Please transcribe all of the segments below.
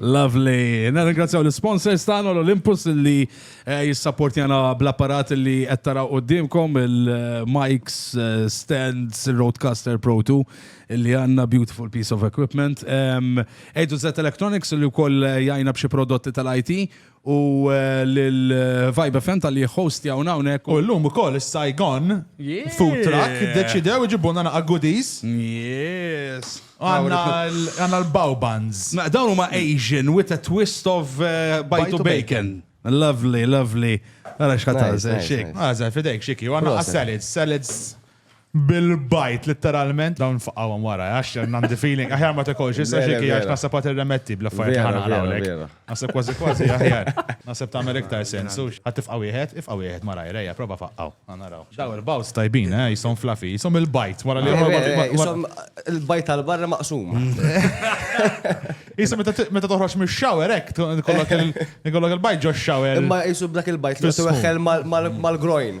Lovely. Nirringrazzjaw l-sponsors tagħna l-Olympus li eh, jissapportjana bl-apparat li qed taraw qudiemkom il-mics, eh, stands, il-Roadcaster Pro 2 li għandna beautiful piece of equipment. Ejdu Z Electronics li wkoll eh, jajna b'xi prodotti tal-IT u lil Vibe FM tal-li jħostjawna hawnhekk. U llum ukoll is-Saigon Food Truck deċidew iġibulna naqa' goodies. Yes. Għandna l-Bowbans. Dawn huma Asian with a twist of bajtu bacon. Lovely, lovely. Għara xħat għazel, xik. Għazel, fidejk, xiki. Għanna għas-salads, salads. bil-bajt litteralment dawn faqawhom wara għax għandi feeling aħjar ma tekolx issa xi għax naħseb għat irremetti bl-affarijiet ħana għalawlek. Naħseb kważi kważi aħjar. Naħseb tagħmel iktar sens. Għat tifqa' wieħed, ifqa' wieħed ma rajrejja, prova faqqaw. Naraw. Daw il-bawz tajbin, eh, jisom flafi, jisom il-bajt wara li jisom il-bajt tal-barra maqsum. Jisom meta toħroġ mix-shower hekk kollok il-bajt ġo shower. Imma jisu dak il-bajt li tuħel mal-groin.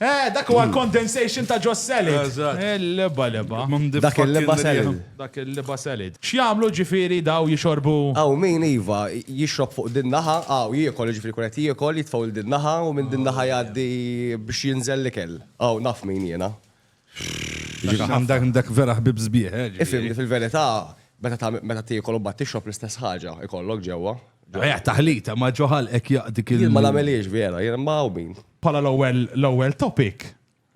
Eh, dak huwa l-condensation ta' ġo salad. Eżatt. Il-liba liba. Dak il-liba salad. Dak il-liba salad. X'jagħmlu ġifieri daw jixorbu? Hawn min, iva, jixrob fuq din naħa, hawn jiekol, jiġifieri jkun qed jiekol, jitfgħu 'l din naħa u minn din naħa jgħaddi biex jinżel l-ikel. Hawn naf min jiena. Dak vera ħbib sbieħ, eh? Ifhimni fil-verità, meta tiekol u mbagħad tixrob l-istess ħaġa ikollok ġewwa. Ejja, taħlita, ma ġoħal hekk jaqdik il- Jien ma nagħmelhiex vera, jien ma hawn min. Bħala l-ewwel l-ewwel topic,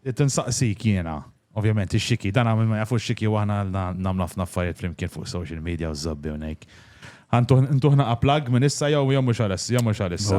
irid insaqsik jiena, ovvjament ix-xiki, dan hawn ma jafu x-xiki u aħna nagħmlu ħafna affarijiet flimkien fuq social media u żobbi u ngħid. Intuħ naqa' plug minn issa jew jew mhux għalissa, jew mhux għalissa.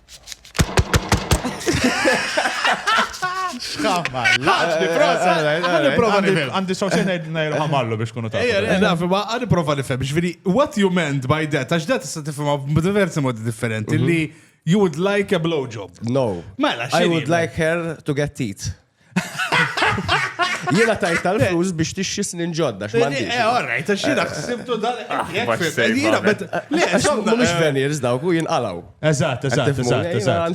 Xkamma, laġni, prosa. Għandi prova nifhem. Għandi sawsi najru għamallu biex kunu ta' Ejja, nafi, ma għandi prova nifhem. Ġviri, what you meant by that? Għax dat tista' tifhimha b'diversi modi differenti mhm. li you would like a blowjob. No. Mela, I would like her to get teeth. Jiena tajt tal-flus biex tixxi snin ġodda, x'mandi. Eh, all right, għax jiena ħsibtu dan. Ah, jiena, bet. Le, somma, mux eh. veniers dawk u jinqalaw. Eżatt, eżatt, eżatt, eżatt.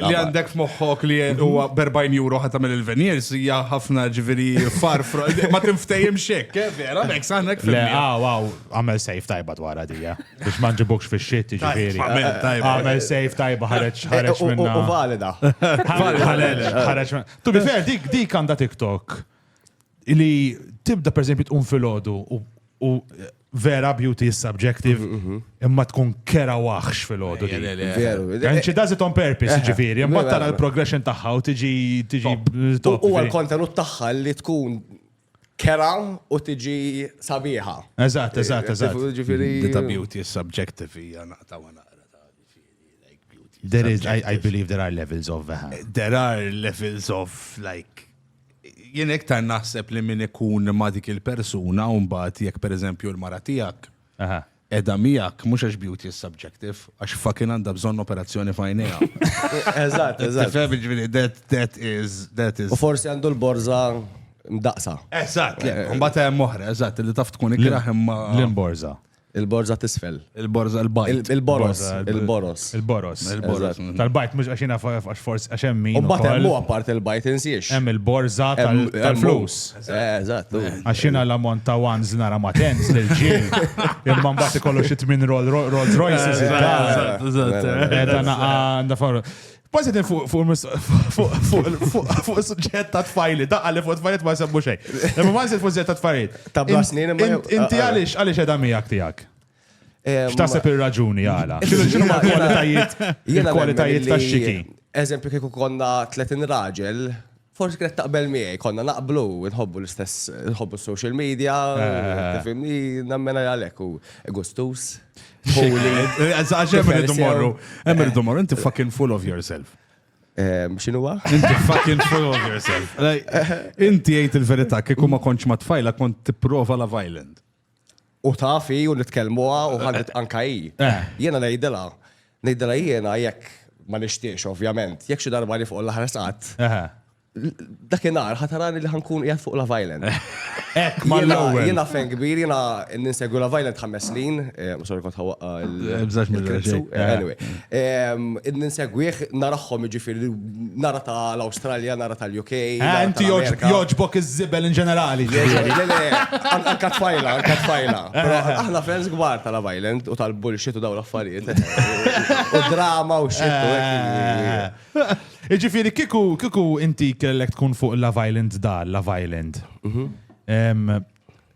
Li għandek f'moħħok li huwa berbajn juro ħat tagħmel il-veniers hija ħafna ġifieri far ma tinftejjem xek, eh, vera, mek saħnek. Le, għaw, għaw, għamel sejf tajba dwar għadija. Biex ma nġibokx fi xit, ġifiri. Għamel sejf tajba ħareċ eh, ħareċ eh, minna. U valida. Ħareċ, ħareċ minna. Tu bifer, dik dik għanda TikTok li tibda per eżempju tqum fil-ħodu u vera beauty is subjective mhm, mhm. imma tkun kera waħx fil-ħodu. And she does it on purpose, ġifiri. Imma tara l-progression taħħa u tiġi tiġi. U għal kontenut taħħa li tkun kera u tiġi sabiħa. Eżatt, eżatt, eżatt. Ġifieri. Dita beauty is subjective hija naqta wa naqra ta' like beauty. There is, I, I believe there are levels of veha. Eh, there are levels of like jien iktar naħseb li min ikun ma' dik il-persuna u mbagħad jekk pereżempju l-mara tiegħek Qiegħda miegħek mhux għax beauty is subjective, għax fucking għandha bżonn operazzjoni f'għajnejha. Eżatt, eżatt. Tifhem, jiġifieri that, that is, that is. U forsi għandu l-borża mdaqsa. Eżatt, le. Mbagħad hemm oħra, eżatt, li taf tkun ikrah imma. L-imborża. Il-borża tisfel. Il-borża l-bajt. Il-boros. Il-boros. Il-boros. Il-boros. Tal-bajt mhux għax jiena għax forsi għax hemm min. U mbagħad hemm huwa part il-bajt insiex. Hemm il-borża tal-flus. Eżatt. Għax jiena l-ammont ta' ones nara ma' tens lil ġil. Imma mbagħad ikollu xi tmien Rolls Royce Eżatt. Għandha farru. Basi din fuq il-suġġett ta' tfajli, daqqa li fuq tfajli ma' semmu xej. Imma ma' fuq il-suġġett ta' tfajli. Ta' blasnin. Inti għalix għalix edha miegħek tiegħek? X'taħseb ir-raġuni għala? X'inhu ma' kwalitajiet il-kwalitajiet tax-xiki? Eżempju kieku konna 30 raġel, forsi kienet taqbel miegħi, konna naqblu, nħobbu l-istess, nħobbu social media, tifimni, nammena għalek u gustus. Għax hemm irridu morru, hemm irridu morru, inti fucking full of yourself. Xinu wa? Inti fucking full of yourself. Inti jgħid il-verità, kieku ma konċ ma tfajla kont tipprova la violent. U taf hi u nitkellmuha u ħallet anka hi. Jiena ngħidilha, ngħidilha jiena jekk ma nixtiex ovvjament, jekk xi darba li fuq l-aħħar sqatt, dakinhar ħatarani li ħankun qiegħed fuq Love Island. Hekk mal-ewwel. Jiena fan kbir, jiena ninsegwi Love Island ħames snin, sorry kont ħawwaqqa l-. Bżax mill-. Anyway, ninsegwih narahom jiġifieri. Nara ta' l-Australia, nara ta' l-UK. Eh, inti joġbok iż-żibel in ġenerali. Għanka tfajla, għanka tfajla. Aħna fans gbar ta' Love Island u tal-bullshit u daw l-affarijiet. U drama u xit. Iġifiri, kiku, kiku inti kellek tkun fuq Love Island dar, Love Island. Mhm.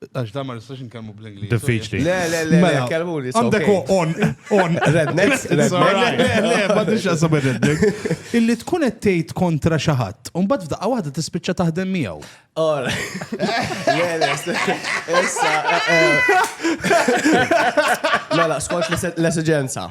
Għax da ma nistax nkellmu bl-Ingliż. Diffiċli. Le, le, le, mela, mela kelmu li. Għandek on, on. Rednex, rednex. Illi tkun qed tgħid kontra xi ħadd, u mbagħad f'daqqa waħda tispiċċa taħdem miegħu. Or. Le, le, issa. Eh, eh. Mela, skont l-esigenza.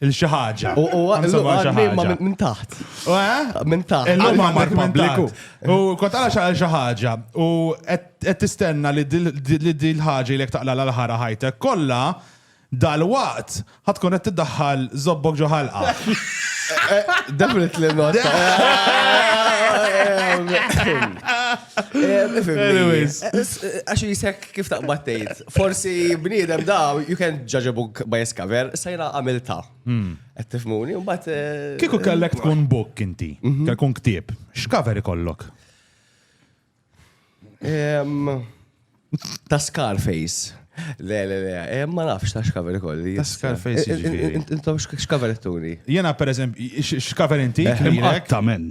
Il-xi ħaġa. U u Għam sewwa xi għadni ma ħaġa. minn taħt. U, eh? Minn taħt. Illum Għadni għandek minn pubbliku. taħt. U kont għala xaħal xi ħaġa. U qed qed tistenna li dil- di- li di l-ħaġa li taqla l-ħara ħajtek kollha dal-waqt ħatkun qed tiddaħħal zobbok ġo ħalqa. Definitely not. Anyways. Għax jisek kif taqbad tgħid. Forsi bniedem daw, you can judge a book by its cover, sajna għamilta. Hmm. Qed tifmuni, mbagħad. Eh, Kieku kellek tkun book inti, mhm. tkun ktieb, x'cover ikollok? Ta' Scarface. Le, le, le, eh, ma nafx ta' xkaver ikolli. Ta' Scarface eh, ġifiri. Intom xkaver tuni? Jena, per eżempju, xkaver inti? Eħtamen.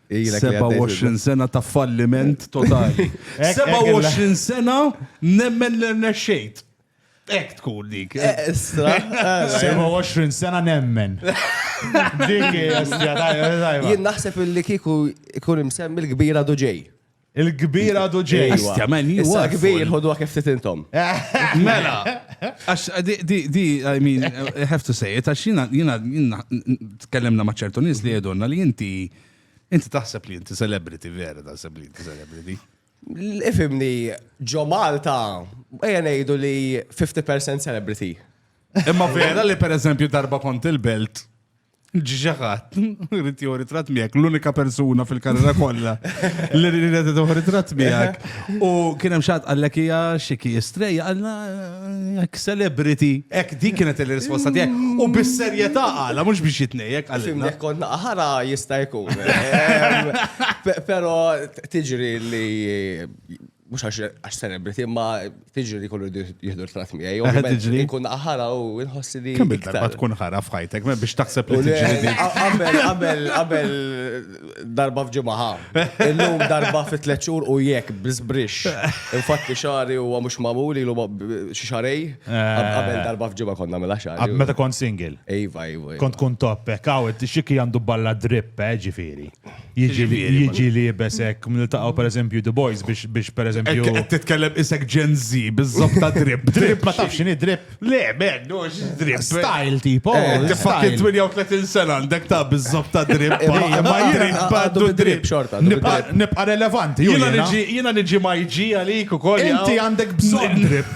27 sena ta' falliment totali. 27 sena nemmen li rnexxejt. Ek tkun dik. Estra. 27 sena nemmen. Dik hija Jien naħseb li kieku ikun imsemmi l-kbira duġej. Il-kbir għadu ġej. Istja, man, you Issa are kbir full. ħodu għak ftit intom. Mela, għax di, di, di, I mean, I have to say it, għax jina, jina, jina, tkellimna ma ċertu nis li jedonna li inti, inti taħseb li inti celebrity, vera taħseb li inti celebrity. Ifimni, ġo Malta, eja nejdu li 50% celebrity. Imma vera li per eżempju darba kont il-belt, ġiġaħat, rrit joħor ritrat miegħek, l-unika persuna fil-karriera kollha li rrit joħor ritrat miegħek. U kien hemm xatt għallek hija xiki strejja għalna jekk celebrity, hekk dik kienet il-risposta tiegħek. U bis-serjetà għala mhux biex jitnejjek għalina. Kont naqħara jista' jkun. Però tiġri li mux għax celebrity, ma tiġri li kollu jihdu l-frat miħaj. Tiġri. Kun ħara u nħossi li. Kemm iktar ma tkun ħara fħajtek, ma biex taħseb li tiġri. Qabel, qabel, qabel darba fġimaħa. Illum darba fit tlet xhur u jekk bizbrix. Infatti xari u mhux magħmul ilu xi xarej. Qabel eh. darba fġimgħa konna mela xari. Meta kont single. Ejva, ejva. Kont kun toppek, għawet xiki għandu balla drip, eh, ġifieri. Jiġi liebes hekk, niltaqgħu pereżempju The Boys biex pereżempju. Qed titkellem isek Gen Z biżżobb ta' drip. Drip ma tafx x'inhi drip. Le, men, no, drip. Style tipo. Eh, Fakin 38 sena għandek ta' biżżobb ta' drip. Ma jrid badu drip xorta. Nibqa' relevanti. Jiena niġi ma jġi għalik ukoll. Inti għandek bżonn drip.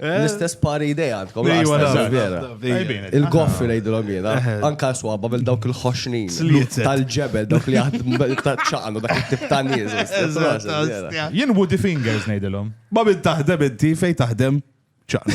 L-istess pari idea għandkom. Il-goffi lejdu l-għamina. Anka swabba bil dawk il-ħoxnin. Tal-ġebel, dawk li għad ċaqnu, dak il-tip ta' nizu. Jien woody fingers nejdilom. Ma bin taħdem inti fej taħdem ċaqnu.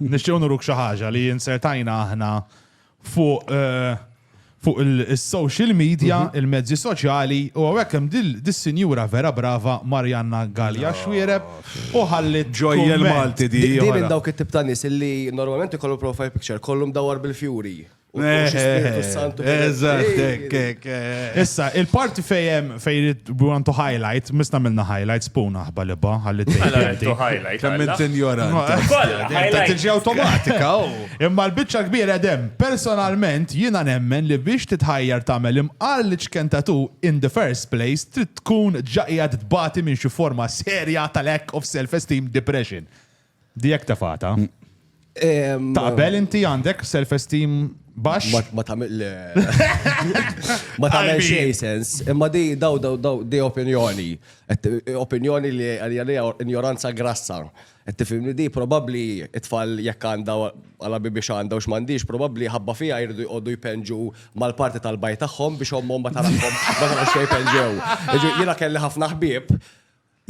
Nixtiew nuruk xi ħaġa li insertajna aħna fuq eh, fuq il-social media, mhm. il-mezzi soċjali, u għawek hemm dis-sinjura vera brava Marjanna Gallia oh. Xwiereb u ħallit ġojjel Malti di. Din minn dawk it-tip ta' nies illi normalment ikollu profile picture kollu mdawwar bil-fjuri. U xi Spiritu Santu. Eżatt, hekk, hekk. eh. Issa, il-parti fejem fej rrit- we want to highlight, misna minna highlight, spuna ħba li ba, għalli Mela t-tejti. rridu highlight. Kemm għalla. int injorant. Kolla, Ta' highlight. tiġi awtomatika, oh. u. Imma l-bicċa kbira dem, personalment jiena nemmen li biex titħajjar tagħmel imqar li ċkentatu in the first place trid tkun ġaqjad tbati minn xi forma serja tal-lack of self-esteem depression. Dijek tefata. Taqbel inti għandek self-esteem bax? Ma tamil. Ma tamil xej sens. Imma di daw daw daw di opinjoni. Opinjoni li għalija ignoranza grassa. Tifimni di probabli it-tfal jekk għanda għala biex għanda u xmandiġ, probabli ħabba fija jirdu jgħoddu jpenġu mal-parti tal-baj tagħhom biex ommom ma tarafhom ma tarafx jpenġew. Jiena kelli ħafna ħbieb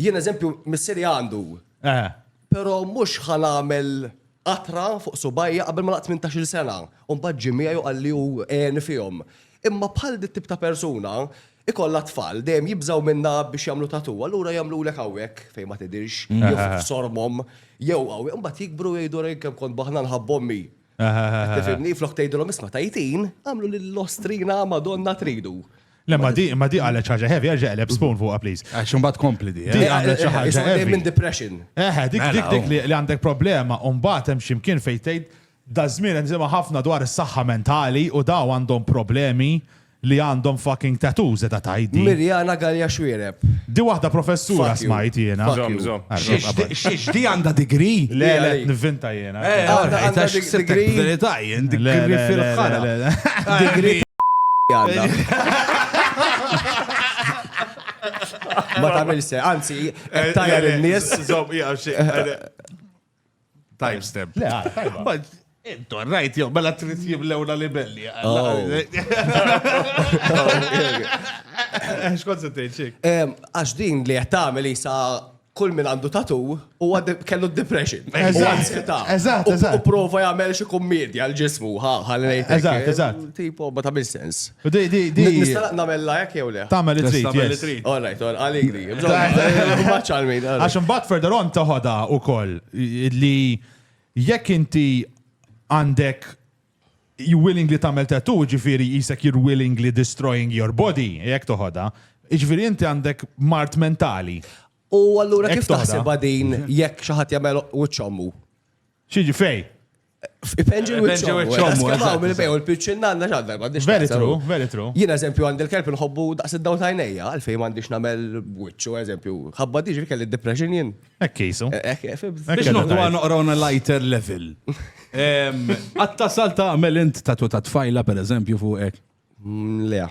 Jien eżempju missieri għandu. Eħe. Però mhux ħa nagħmel qatra fuq subajja qabel ma laqt 18-il sena. U mbagħad ġie miegħi u qal li hu għeni fihom. Imma bħal dit-tip ta' persuna, ikollha t-tfal, dejjem jibżgħu minnha biex jagħmlu tatoo, allura jagħmlulek hawnhekk fejn ma tidhirx, jew f'sormhom, jew hawn. Imbagħad jikbru u jgħidu rejn kemm kont baħna nħabb ommi. Tifimni, flok tgħidilhom isma' tajtin, għamlu lill-ostrina Madonna tridu. Le, ma di, ma di għalet ċaġa heavy, għalġa għaleb spoon fuq, please. Għax un bat kompli di. Di għalet eh, eh, ċaġa eh, heavy. Minn depression. Eħe, dik mela, dik dik oh. li għandek problema, un bat hemm ximkien fejtejt, da zmin nżima ħafna dwar is-saħħa mentali u daw għandhom problemi Li għandhom fucking tattoo zeda tajdi. Mirjana Galea Xuereb. Di waħda professura smajt jiena. Żomm, żomm. Xiex di għandha degree? Le, le, nivvinta jiena. Eh, għandha degree. Verità jien, degree fil-ħana. Degree Ma tagħmilx se, anzi, tajja lin-nies. Żomm, jgħafx. Time step. Le, ah, tajba. Intu, rajt jew, mela trid jimlewna libelli. Oh. Xkont se tgħid xik? Għax din li qed tagħmel isa kull min għandu tatu u kellu depression. Eżatt, U prova jagħmel xi kummedja l-ġismu, ħalli ngħid. Eżatt, eżatt. Tipo ma tagħmel sens. Nista' nagħmella hekk jew le? Tagħmel li trid. All right, all għalik di. Għax imbagħad further on toħodha wkoll li jekk inti għandek you willingly tagħmel tattoo, ġifieri jisek you're willingly destroying your body, jekk toħodha, ġifieri inti għandek mart mentali. U allura kif taħseb din jekk xi ħadd jagħmel wiċċommu? Xieġi fej? Ipenġi l-wicċom. Skamaw minn bejn u l-pitchin nanna ġadda. Very true, very true. Jina eżempju għand il-kelb nħobbu daqs id-daw tajnejja, għalfej mandiġ namel wicċu eżempju. Għabba diġi kelli depression jien. Ekkisu. Eh, eh, eh, Biex noqdu għan uqrawna lighter level. Għatta salta għamel int tatu ta' tfajla per eżempju fuq ek. Mm, Lea.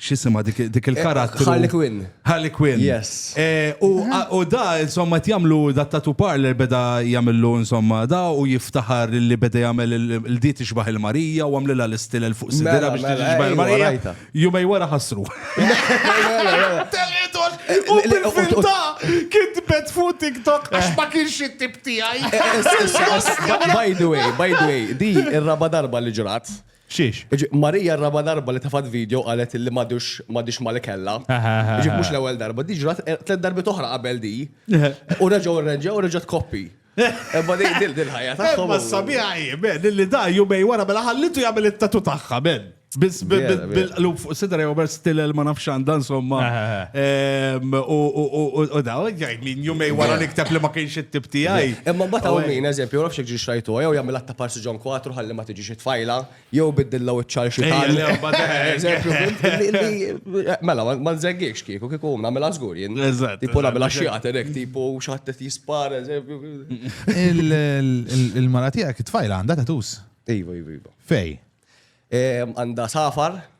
xisima dik eh, il-karattru. Harley Quinn. Harley Quinn. Yes. Eh, u da, insomma, jamlu da tatu parler beda jamillu, insomma, da u jiftaħar li beda jamel il-dit ixbaħ il-Marija u għamlila l-istil fuq sidira biex tiġi ixbaħ il-Marija. Jumej wara ħasru. U bil-filta kitbet fuq TikTok għax ma kienx it-tip tiegħi. Eh, eh, by the way, by the way, di ir-raba darba li ġrat. Xiex? Jiġifieri Marija r-raba' darba li tefgħet vidjo qalet illi m'għadux m'għadhiex ma' li kellha. Jiġifieri mhux l-ewwel darba. Di ġrat tliet darbiet oħra qabel di. U reġgħu rrenġew u reġgħet tkoppi. Imma di di l-ħajja tagħhom. Imma s-sabiħa hi, men, illi da jumejn wara mela ħallitu jagħmel it-tattoo tagħha, men. Biss b' Vera, vera. bil-qlub fuq sidra jew bers tilel ma nafx x'għandha insomma. Ehm, U u- u- u da, jgħid min jumejn wara Vera. nikteb li ma kienx it-tip tiegħi. Imma mbagħad hawn min, eżempju, ma nafx jekk ġiex rajtuha, jew jagħmilha ta' parsi ġon kwatru ħalli ma tiġix xi tfajla, jew biddilha wiċċha għal xi tagħna. Mela, ma nżeggikx kieku, kieku nagħmilha żgur jien. Tipo nagħmilha xi għaterek, tipo xatt qed jispar, eżempju. Il-mara tiegħek it-tfajla għandha tatus. Iva, iva, iva. Fej? Għandha safar.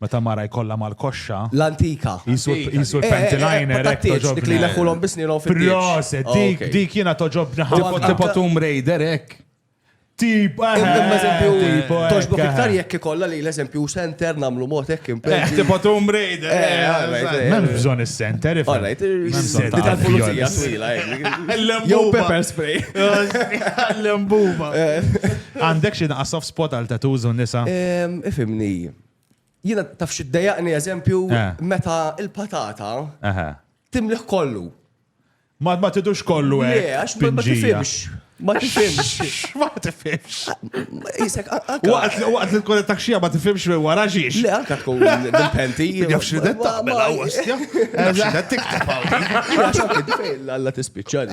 Meta mara jkollha mal-koxxa. L-antika. Qisu qisu l-panty liner hekk toġobni. Dik li jleħħulhom bi snierhom fit-tieġ. Proset, dik dik jiena toġobni ħafna. Tipo Tomb Raider hekk. Tip, eżempju, toġbok iktar jekk ikollha li l-eżempju center nagħmlu mod hekk impetti. Tipo Tomb Raider. M'hemm bżonn is-center ifhem. Alright, is-center tal-pulizija twila hekk. Jew pepper spray. L-embuba. Għandek xi naqas Spot għal tattoos u nisa. Ifimni, jiena taf xi ddejaqni eżempju eh. meta il-patata timliħ kollu. Ma ma tidux kollu hekk. Eh, għax ma tifhimx. Ma tifhimx. Ma tifhimx. Isek waqt li waqt li tkun taxxija ma tifhimx minn wara xiex. Le anke tkun penti. Jafx li detta mela għostja. Jafx li detta tikteb Alla tispiċċani.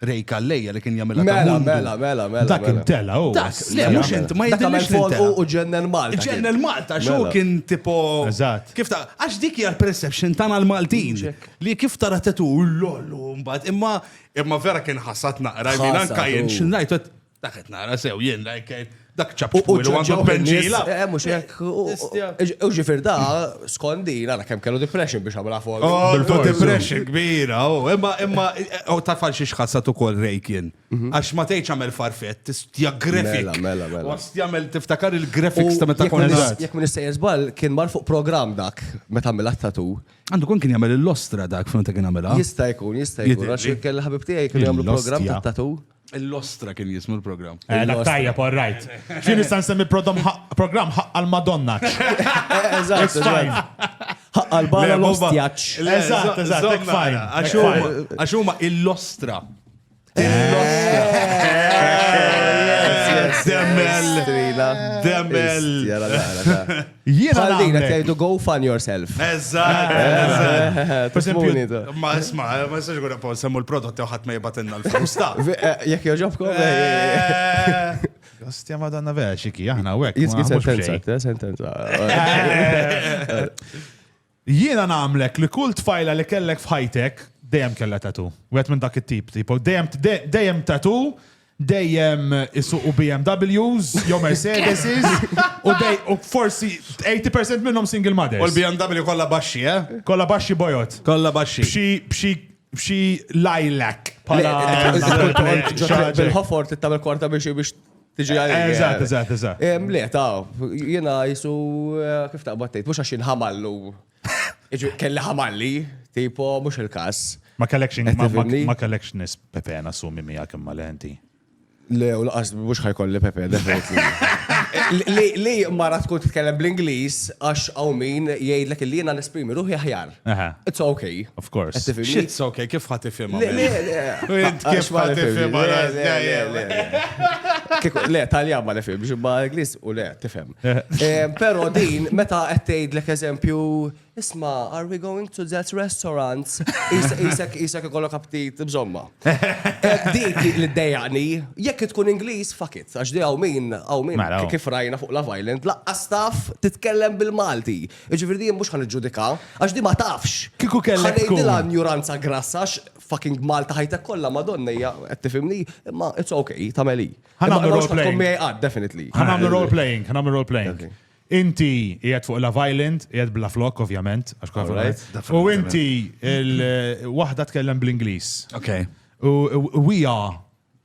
Ray Calleja li kien jagħmilha ta' Mela, mundu. mela, mela, mela. Dak mela. intela u. Dak, le, Mela, mhux mela. int, ma Dak jidhirlix għamel li folqu intela. u ġennel Malta. kien. Ġennel Malta, xo Mela. kien tipo. Eżatt. Kif ta' għax dik hija l-perception tagħna l-Maltin. Ġek. Li kif tara tetu lollu mbagħad imma imma vera kien ħasad naqra. I mean, Ħasad, anka jien u- x'ngħid qed- Dak qed nara sew jien like dak ċab twil u għandu penġila. Eh, mhux hekk. U ġifier da skondi nara kemm kellu depression biex għamilha fuq. Oh, depression kbira, oh, imma imma oh, ta' tfal xi xħassat ukoll rejk jien. Mhm. Għax ma tgħidx għamel farfett, tistja grafik. Mela, mela, mela. Għas jagħmel tiftakar il-graphics ta' meta kont Jekk minn sejjer żball kien mar fuq programm dak meta għamil tatu. Għandu kun kien jagħmel l-ostra dak fejn ta' kien għamilha. Jista' jkun, jista' jkun. Għax kien ħabib tiegħi kien jagħmlu programm ta' tatu. L-ostra kien jismu l-program. Eh, dak tajja, all right. Xini san semmi program ħaqqa l-Madonna. Eżatt, ħaqqa l-barra l-ostjaċ. Eżatt, eżatt, tek fajn. Għaxuma l-ostra. L-ostra. Demmel. Demmel. Jiena Bħal din qed nagħmlek. jgħidu go fun yourself. Eżatt, eżatt. Per Tifuni, esempio, ta. ma isma, ma jistax ikun appaw semmu l-prodotti u ħadd ma jibatilna l-flus ta. Vi- eh, Jekk joġobkom, eh, Eh, Ostja madonna vera xiki, aħna u hekk. jizgi ma mhux sentenza, b'xejn. ta' sentenza. Jiena nagħmlek li kull tfajla li kellek f'ħajtek dejjem kellha tattoo. Wieħed minn dak it-tip, tipo dejjem dejjem tattoo, dejjem isuqu BMWs jew Mercedeses u dej u forsi 80 percent minnhom single mothers. U l-BMW kollha baxxi, eh? Kollha baxxi bojod. Kollha baxxi. B'xi b'xi b'xi lilac bħala. Bil-ħofor trid tagħmel korta biex biex Tiġi għal. Eżatt, eżatt, eżatt. Le, ta' jena jisu eh, kif ta' battejt, mux għaxin ħamallu. Kelli ħamalli, tipo, mux il-kas. Ma collection, ma collection is Pepe nasumi mija kimma lenti. Le, u laqas mux ħajkolli Pepe, Li mara tkun titkellem bl-Inglis, għax għaw min jgħidlek li jena nesprimi ruħi ħjar. It's okay. Of course. It's okay, kif ħat tifhimha? Kif ħat tifhimha? Le, talja ma nifhem, ġimma Ingliż u le, tifhem. Però din, meta qed tgħidlek eżempju, isma, are we going to that restaurant? Isek isek ikollok aptit bżomma. Dik li dejjaqni, jekk tkun Ingliż, fuck it, għax di hawn min, hawn min, mela, oh. kif rajna fuq la violent, laqqas taf titkellem bil-Malti. Jiġifieri jien mhux ħa niġġudikaha, għax di ma tafx. Kieku kellek tkun. Ħa ngħidilha injuranza grassa għax fucking b'Malta ħajtek kollha Madonna hija, qed tifhimni, imma it's ok, tagħmel hi. Ħa nagħmlu role playing. Tkun miegħi qatt, definitely. Ħa nagħmlu role playing, ħa nagħmlu role playing. Inti qiegħed fuq Love Island, qiegħed bla flok ovvjament, għax kwa flok. U inti il-waħda tkellem bl-Ingliż. Ok. U hija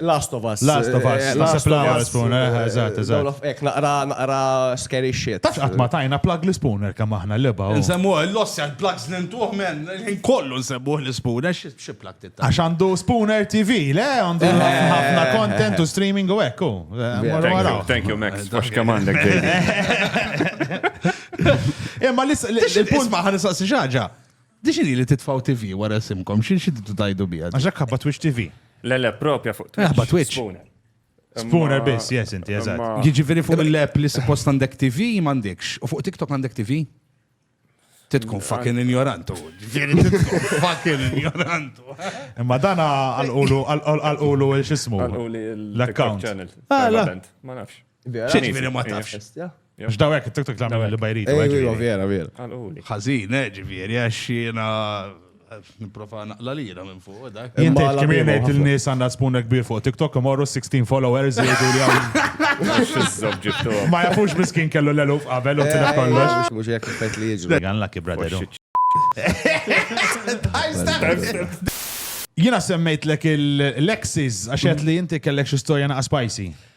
Last of Us. Last of Us. Last of Us. Spooner, eżatt, eżatt. Ek, naqra, naqra scary shit. Tafx qatt ma tajna plug li Spooner kemm aħna l-leba. Nsemmu l-loss għal plugs li ntuħ men, kollu nsemmu li Spooner, xi plug titta. Għax għandu Spooner TV, le għandu ħafna content u streaming u ekku. Thank you, Max. Għax kemm għandek Imma l-punt ma ħanisaqsi xaġa. Dixiri li titfgħu TV wara isimkom, xi tridu tgħidu biha? Għax hekk ħabba Twitch TV. Le, le, propja fuq Twitch. Ħabba Twitch. Spooner. Spooner biss, yes, inti, eżatt. Jiġifieri fuq il-lab li suppost għandek TV m'għandekx, u fuq TikTok għandek TV? Titkun fucking ignorantu. Ġifieri titkun fucking ignorantu. Imma dana għal-qulu, għal-qulu, xismu. Għal-qulu l-account. Ah, ma nafx. Xiex veri ma tafx. X'dawek it-tiktok l-għamil li bajrit. Vera, vera. Ħazin, eh, ġifieri, għax jiena eh, niprofa naqla li jiena minn fuq. Eh, Jinti kmien ngħid il-nies għandha spuna kbir fuq TikTok imorru 16 followers jgħidu li hawn. Ma jafux miskin kellu l-eluf qabel u tilef kollox. Mhux hekk effett li jiġu. Għan lucky brother. Jiena semmejt lek il-Lexis għax li jinti kellek xi storja naqa' spicy.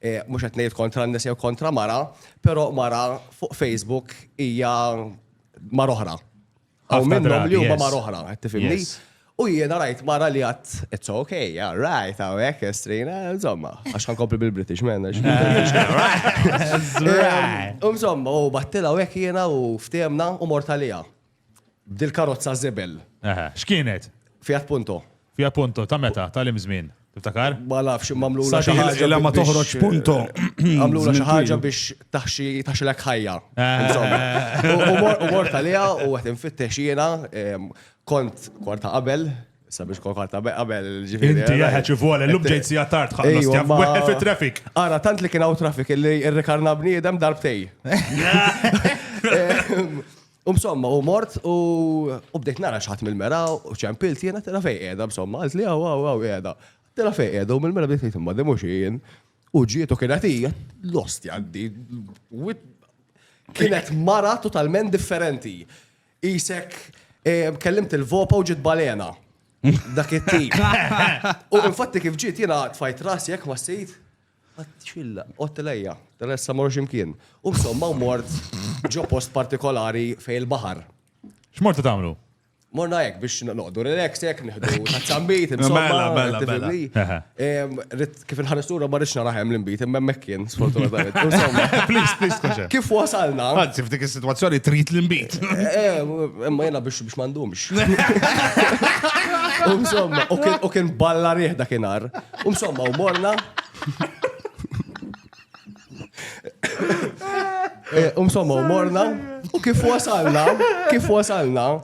Mhux qed ngħid kontra n-nisa jew kontra mara, però mara fuq Facebook hija mar oħra. Hawn minnhom li huma mar oħra, qed tifhimni? U jiena rajt mara li għat, it's okay, yeah, right, għawek, estrina, insomma, għax għan kopri bil-British, man, għax bil-British. Insomma, u battila għawek jiena u ftemna u mortalija. B'dil-karozza żebel. Eħe, x'kienet? Fiat Punto. Fiat Punto, ta' meta? Ta' lim żmien? Tiftakar? Ma nafx, imma għamlu la xi ħaġa. Illa ma toħroġ Punto. Għamlu la xi ħaġa biex taħxi taħxilek ħajja. U mort għalija u għet infittex jiena kont kwarta qabel sabiex kol kwarta qabel ġifiri. Inti eh, jaħħa ċivole, l-lum ġejt si għattart ħallas tjaf weħel fi traffic. Ara, tant li kien għaw traffic li r-rekarna bniedem darbtej. U msomma, u mort, u bdejt nara xaħat mill-mera, u ċempilt jena tela fej edha, msomma, għalt li għaw, għaw, għaw, edha. Tela fej edha, u mill-mera bdejt jtimma, dimu xien, u ġiet u kienet hija, lost jaddi, kienet mara totalment differenti. Isek, eh, kellimt il-vopa u ġiet balena. Dak it-tip. U infatti kif ġiet jena tfajt rasi jek ma s-sejt, Għattxilla, għott lejja, Teresa mor ximkien. U somma u mort ġo post partikolari fej il-bahar. X'mortu tagħmlu? Morna hekk biex noqdu relax hekk nieħdu tazzambit, insomma, mela, mela, mela. kif il-ħanistura ma rridx naraħem l-imbit, imma hemmhekk kien sfortunatament. Please, please, koxa. Kif wasalna? Anzi, f'dik is-sitwazzjoni trid l-imbit. Eh, imma jiena biex biex m'għandhomx. Insomma, u kien balla rieħ dakinhar. Umsomma, u morna. Eh, umsomma, u morna. U kif wasalna, kif wasalna,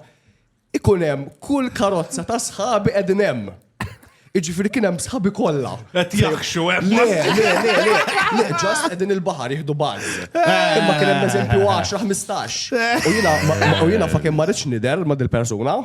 ikun hemm kull karozza ta' sħabi qegħdin hemm. Iġifieri kien hemm sħabi kollha. Qed jaħxu hemm. Le, le, le, le, le, ġast qegħdin il-baħar jieħdu baż. Eh. Imma kien hemm eżempju 10-15. U jiena u jiena fakin ma rridx nidher ma' dil-persuna.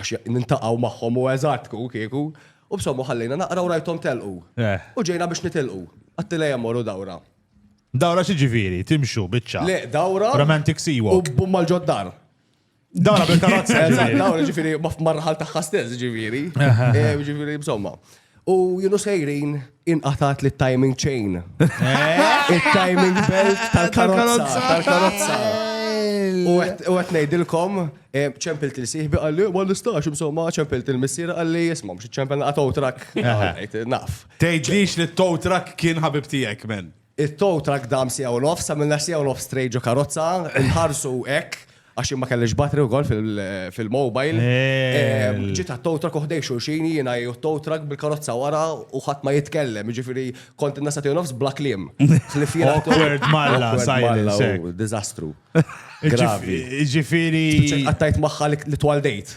Għax nintaqgħu magħhom u eżatt ku kieku. U b'sommu ħallejna naqra u rajthom telqu. Eh. U ġejna biex nitilqu. Għattilha hemm morru dawra. Dawra xi ġifieri? Timxu biċċa. Le, dawra. Romantic sea walk. U bumma l-ġoddar. Dawra bil-karozza. Dawra ġifieri marħal tagħha stess ġifieri. Eh, ġifieri b'somma. Eh, U junu sejrin inqatat li timing chain. Eh? Il-timing belt tal-karozza. Tal-karozza. U għet nejdilkom, eh, ċempil til-siħbi għalli, għalli stax, insomma, ċempil til-missira għalli, jisma, mux ċempil għat trak. Naf. Tejdlix li tow trak kien ħabib tijek, men. It-tow truck dam siegħa u nofs, għamilna siegħa u nofs straight ġo karozza, nħarsu hekk għax ma kellix battery wkoll fil-mobile. Eh. Ġiet għat-tow truck uħdej xulxin jiena jew tow truck bil-karozza wara u ħadd ma jitkellem, jiġifieri kont innasa tiegħu nofs bla kliem. Awkward malla, silence. Diżastru. Gravi. Jiġifieri. Għattajt magħha li twaldejt.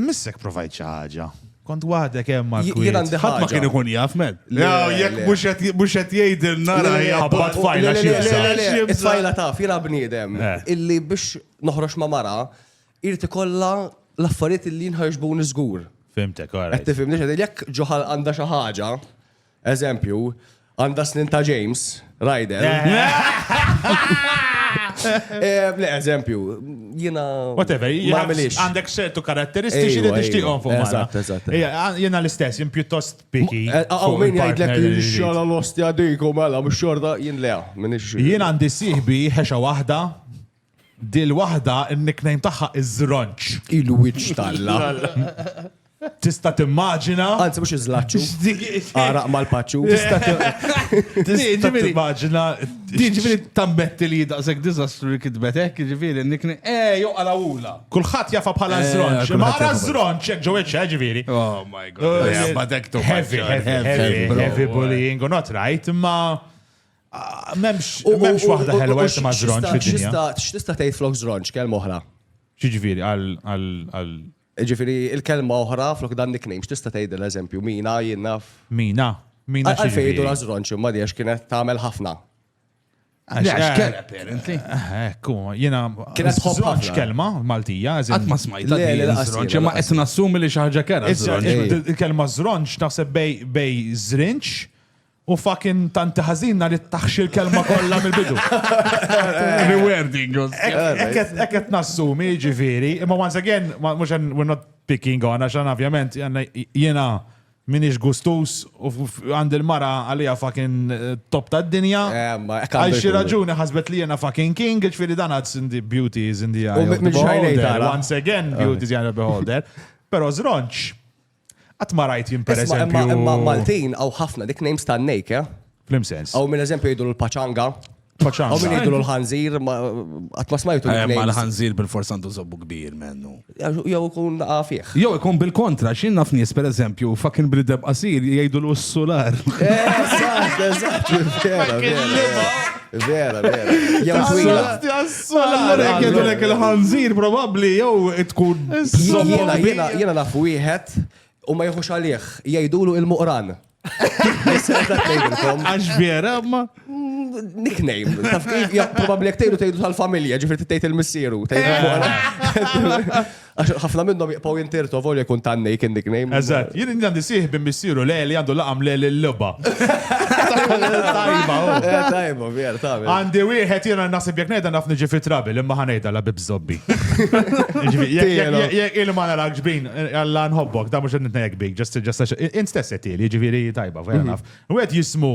Missek provajt xi ħaġa. Kont waħdek hemm mal-kwiet. Jien għandi ħadd ma kien ikun jaf med. Jekk mhux qed jgħidilna ra hija ħabbat fajla xi bżonn. Fajla taf, jiena bniedem illi biex noħroġ ma' mara irid ikollha l-affarijiet illi jinħarġbuni żgur. Fimtek, all right. Qed tifhimni x'qed jekk ġo ħalq għandha xi ħaġa. Eżempju, għandha snin ta' James, Ryder. Eh, le, eżempju, jina. Whatever, għandek ċertu karatteristiċi li tixtiqom fuq mara. Eżatt, eżatt. Jina l-istess, jien pjuttost piki. Eh, għaw, minn jgħidlek il-xala l-ostja diku mela, mux xorta, jien le, minn ix. Jien għandi siħbi ħexa wahda, Dil waħda n-nickname tagħha iż-Żronċ. Il-wiċċ t'Alla. Tista' timmaġina. Anzi mhux iż-żlaċċu. Għaraq mal-paċċu. Tista' timmaġina. Din ġifieri tammetti li daqshekk diżastru li kitbet hekk, ġifieri n-nickname. Eh, jew qalawula. Kulħadd jafa bħala żronċ. Ma ara żronċ hekk ġew hekk ġifieri. Oh my god. Heavy, heavy, heavy bullying u not right, imma Memx waħda ħelwa jek ma zronċ fid-dinja. X'tista' tgħid flok zronċ kelma oħra? Xiġifieri għal Ġifieri il-kelma oħra flok dan nickname x'tista' tgħid l-eżempju mina jien naf. Mina. Mina xi. Għalfejn jgħidu żronċ imma għax kienet tagħmel ħafna. Għax kelma apparently. Ekku, jiena kienet żronċ kelma Maltija, eżempju. Ma smajt żronċ, imma qed nassumi li xi ħaġa kera. Il-kelma żronċ naħseb bej żrinċ U fucking tanti ħażin nar it-taħxi l-kelma kollha mill-bidu. Rewarding. Ekk qed nassumi ġifieri, imma once again, mhux we're not picking on għax ovvjament jiena minix gustus u għandi l-mara għalija fucking eh, top ta' dinja. Eh, Għal xi raġuni ħasbet li jena fucking king, ġifiri dan għadz in the beauty is in the eye. Once again, beauty is in the beholder. Pero zronċ, Qatt ma rajt jien per eżempju. Imma Maltin għaw ħafna dik names ta' nejk, eh? Flim sens. Għaw minn eżempju jiddu l-paċanga. Paċanga. Għaw minn jiddu l-ħanżir, għat ma smajtu l-nejk. Ma l-ħanżir bil-forsa għandu zobbu kbir mennu. Jow ikun għafieħ. Jow ikun bil-kontra, xin naf nies per eżempju, fakin brideb qasir jgħidu l-ussular. Eżatt, eżatt. Vera, vera. Jew twila. Allora jekk jgħidulek il-ħanżir probabbli jew tkun. Jiena jiena jiena naf wieħed u ma jħux għalih jgħidulu il-muqran. Għax vera, ma. Nickname, taf kif, probabli jek tejdu tejdu tal-familja, ġifri tejt il-missieru, tejdu Għax ħafna minnhom jibqgħu jintirtu volja jkun tannej kien nickname. Eżatt, jien għandi sieħ bin missieru le li għandu laqam le l-logħba. Tajba, oh. eh, tajba, vjer, tajba. Għandi wieħed jiena naħseb jekk ngħidha naf niġi fi trabil imma ħanejda la bib zobbi. Jekk il-ma narak ġbin, għalla eh, nħobbok, da mhux qed nitnejjek bik, ġest ġest int stess qed jiġifieri tajba, vera mm-hmm. naf. Wieħed jismu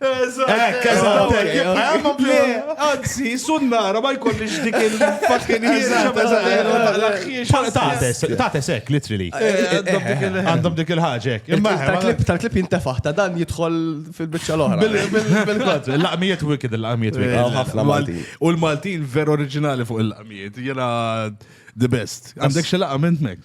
Ekk, eżatt, ekk. Le, anzi, sunnara ma jkollix dik il-fucking Tates ekk, literally. Għandhom dik il-ħagġa ekk. Tal-klip, tal-klip jintefaħ, ta' dan jidħol fil-bicċa l-oħra. Bil-kont, l-laqmijiet wicked, l-laqmijiet wicked. U l-Maltin ver oriġinali fuq il-laqmijiet, jena the best. Għandek xelaqa minn mek?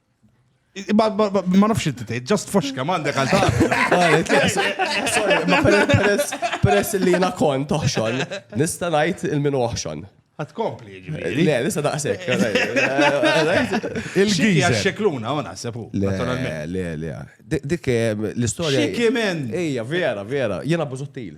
Ma nafx inti tgħid, just foxka m'għandek għal Peress li jiena kont toħxon, nista' ngħid il-min oħxon. Għat kompli, ġiviri. Le, lisa daqsek. Il-gija xekluna, u naħsebu. Le, le, le. Dik eh, l-istoria. Xikimen. Ija, vera, vera. Jena buzuttil.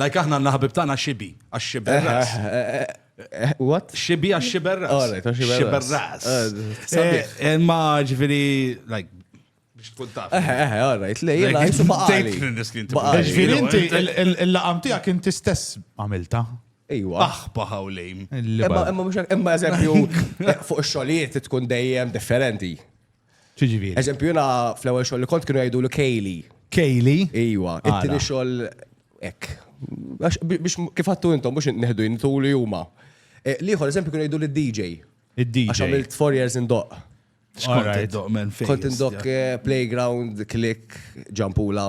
Like aħna għandna ħabib tagħna Xibi, għax xiberras. What? Xibi għax xiberras. Alright, għax xiberras. Xiberras. Imma ġifiri, like, biex tkun taf. Eh, eh, eh, all right, lej, jena, jisu baqali. Ġviri, inti, il-laqam tijak inti stess għamilta. Ejwa. Aħba ħawlejm. Imma, imma, imma, eżempju, fuq xolijiet tkun dejjem differenti. Ċiġifieri. Eżempju, jiena fl-ewwel xogħol li kont kienu jgħidu l Kejli. Kejli? Iwa, it-tieni xogħol hekk. Biex kif għattu intom mhux neħdu jintu li huma. Eh, Liħor, eżempju, kienu jgħidu l-DJ. Il-DJ. Għax għamilt 4 years in doq. Xkont il-doq men fejn. Kont il-doq eh, playground, click, ġampula.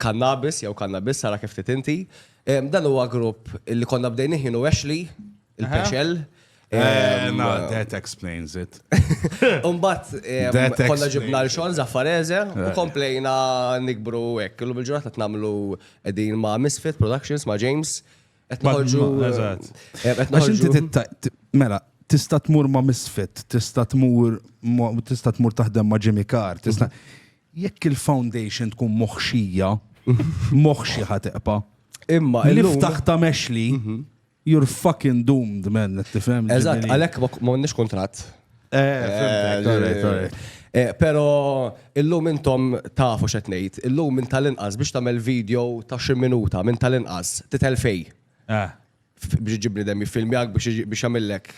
Kannabis jew Kannabis, ara kif trid inti. Dan huwa grupp li konna bdejnih jien u Ashley, il-Pexel. That explains it. Umbat, konna ġibna l-xon zaffareze u komplejna nikbru hekk. Illum il-ġurnata tnamlu din ma' Misfit Productions, ma' James. Etnoħorġu. Mela, tista tmur ma' Misfit, tista tmur tista tmur taħdem ma' Jimmy Carr, tista. Jekk il-foundation tkun moħxija, moħxi ħa teqpa'. Imma il ftaħ ta' mexli, you're fucking doomed, man, tifhem? Eżatt, għalhekk ma nix kuntratt. Pero illum intom tafu xet ngħid, illum minn tal-inqas biex tagħmel video ta' xi minuta minn tal-inqas titel fej. biex iġibli dem jiffilmjak biex għamillek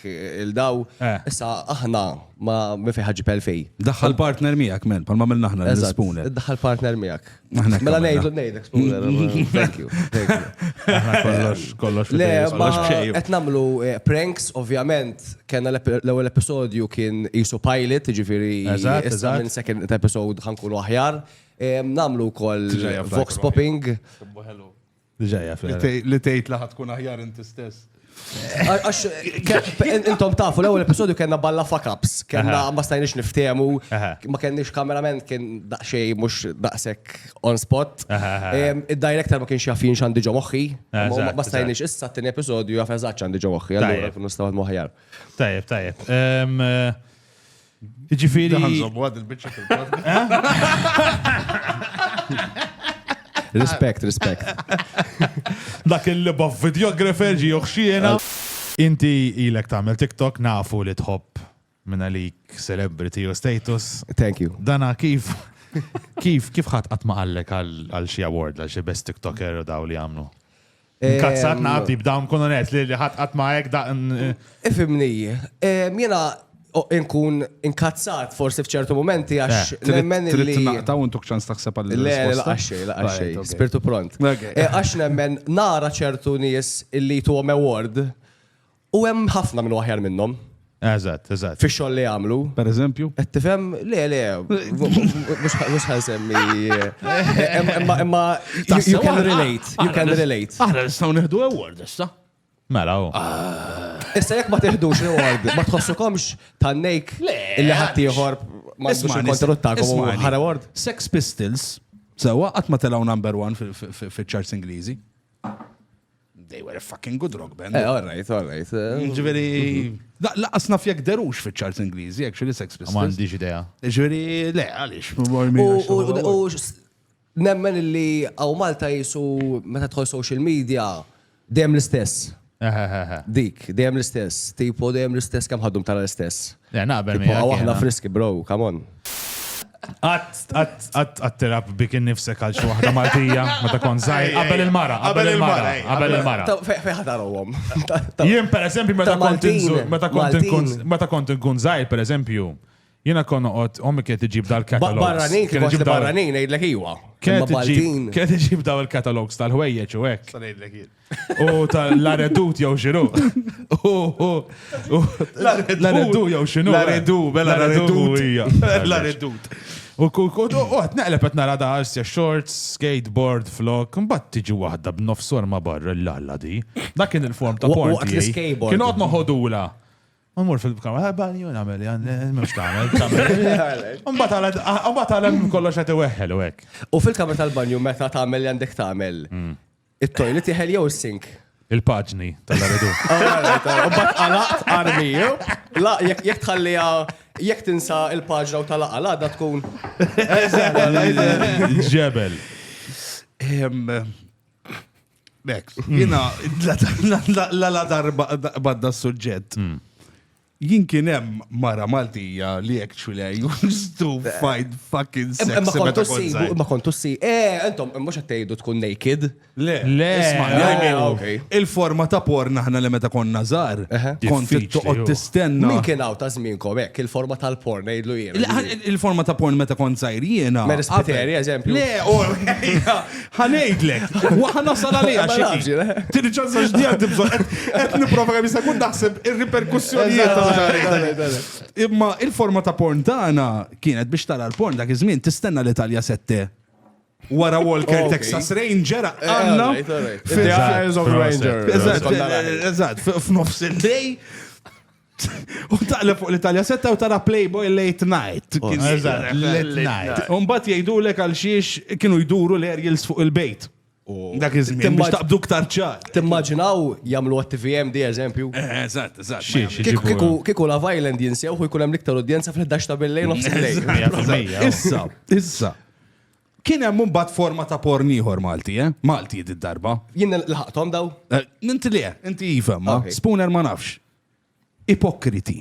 il-daw. Eh. Issa aħna ma mifi ħagġi pelfej. Daħħal partner miegħek men, palma mill naħna l-spooner. Daħħal partner miegħek. Mela ngħidu ngħidek spooner. Thank you. Kollox, kollox. Le, ma qed nagħmlu eh, pranks, ovvjament, kena l-ewwel episodju kien isu pilot, ġifieri issa minn second episode ħankunu aħjar. Eh, namlu kol vox popping. Diġajja, Li tgħid li tkun aħjar inti stess. Għax, intom tafu, l-ewwel episodju kellna balla fuck-ups, kellna ma stajniex niftehmu, ma kellniex kamerament kien daqsxej mhux daqshekk on spot. Id-director ma kienx jaf jien x'għandi ġo moħħi, ma stajniex issa t-tieni episodju jaf eżatt x'għandi ġo moħħi, allura kun nistgħu moħħjar. Tajjeb, tajjeb. Ġifiri. Għanżobu għad il-bicċa Respect, respect. Dak il-liba videographer ġi uħxiena. Inti ilek tamel TikTok nafu li tħobb minna lik celebrity u status. Thank you. Dana kif kif kif ħadd qatt ma qallek għal xi award għal xi best TikToker u daw li għamlu? Nkazzat naqabdi b'dawn kun onest li ħadd qatt ma hekk da. Ifimni, jiena nkun inkazzat forsi f'ċertu momenti għax eh, nemmen li. Trid naqta' u ntuk ċans taħseb għal Le, laqaxxej, laqaxxej, spirtu pront. Eh, għax nemmen nara ċertu nies illi tu award U hemm ħafna minn aħjar minnhom. Eżatt, eżatt. Fi xogħol li għamlu. Per eżempju? Qed tifhem le le mhux ħan semmi. Imma imma you can relate, you can relate. Aħna nistgħu neħdu award issa. Mela u. Ah. Issa jekk ma teħdux award, ma tħossukomx tannejk illi ħadd ieħor ma tkunx il-kontenut tagħkom ħara award. Sex Pistols, sewwa qatt ma telgħu number one fil-charts Ingliżi. They were a fucking good rock band. Eh, all right, all right. Eh. Ġveri, laqqas naf jek derux fi ċarts Ingliżi, actually Sex Pistols. Ma għandix idea. Ġveri, le, għalix. U nemmen li għaw Malta jisu meta tħol social media dem l-istess. Dik, dem l-istess. Tipo dem l-istess kam ħaddum tara l-istess. Le, naqbel Tipo, miegħek. għaw aħna jiena. friski, bro, come on. Għat tirab bik innifsek għal xi waħda Maltija, meta kont żgħir, qabel il-mara, qabel il-mara, qabel il-mara. Ta- fe- Fejn ħadarhom? Ta- ta- Jien per eżempju meta ta' kont Maltin, inżur- meta kont Maltin. inkun meta kont inkun żgħir per eżempju, jiena kon noqgħod ommi kienet iġib Ba- dal-katalogs. Barranin, kif għax li barranin, ngħidlek iwa. Imma Kienet iġib Maltin. kienet iġib daw il-katalogs tal-ħwejjeġ u hekk. Sa ngħidlek jien. U tal-laredut jew xinu. Laredut jew xinu. Laredu, bella laredut. Laredut. U għat neqleb għat nara da għarsja shorts, skateboard, flok, mbatt tiġi wahda b'nofsor ma barra l-lalla di. Da kien il-form ta' porn. Waqt l-skateboard. Kien għot noħodula. Ma mur fil-kamra, eh, bani jun għamel, għan, eh, mux tamel. Umbat għalem kollox għati weħel u għek. U fil-kamra tal-banju meta tamel għandek tamel. Mm. It-toilet iħel jew is-sink? Il-paġni tal-aridu. Bat għalaqt armi, la jek tħallija jek tinsa il-paġna u tal-aqqa la da tkun. Ġebel. Bek, jina la darba badda s-sujġet. Hmm. Jien kien hemm mara Maltija li hekk txwilha used to find fucking sex Imma meta kontu kont ssibu, żgħir. imma kontu ssi. Eh, intom mhux qed tgħidu tkun naked. Le, Le, isma' le, I mean, ok. il-forma ta' porn aħna li meta konna żgħar, Eħe. kont Diffiċli, toqgħod ju. tistenna. Min kien hawn ta' żmienkom hekk il-forma tal-porn ngħidlu jien. Il- Il-forma ta' porn meta kont żgħir jiena. Mary Spiteri, qabel- eżempju. Le, u Ħa ngħidlek, wa ħa nasal għaliha xi ħin. Tieni ċans għax di għandi bżonn. Qed nipprova kemm jista' jkun naħseb ir-riperkussjonijiet ta' xi Imma il-forma ta' porn tagħna kienet biex tara l-porn dak iż-żmien tistenna l-Italja sette wara Walker Texas Ranger għanna. F'nofs il-lej U taqleb fuq l-Italja setta u tara Playboy late night. Oh, late night. Umbat jgħidu l għal xiex kienu jduru l-aerials fuq il-bejt. Oh. Dak iż-żmien biex taqbdu ktar ċar. Timmaġinaw jagħmlu għat-TVM di eżempju. Eh, eh, eżatt, eżatt. Kiku la Island jinsew u jkun hemm l-iktar udjenza fl-11 ta' billejn nofs Issa, issa. Kien hemm imbagħad forma ta' porn ieħor Malti, eh? Malti d-darba. Jien laħaqthom daw? Eh, inti le, inti iva, ma Spooner ma nafx. Ipokriti.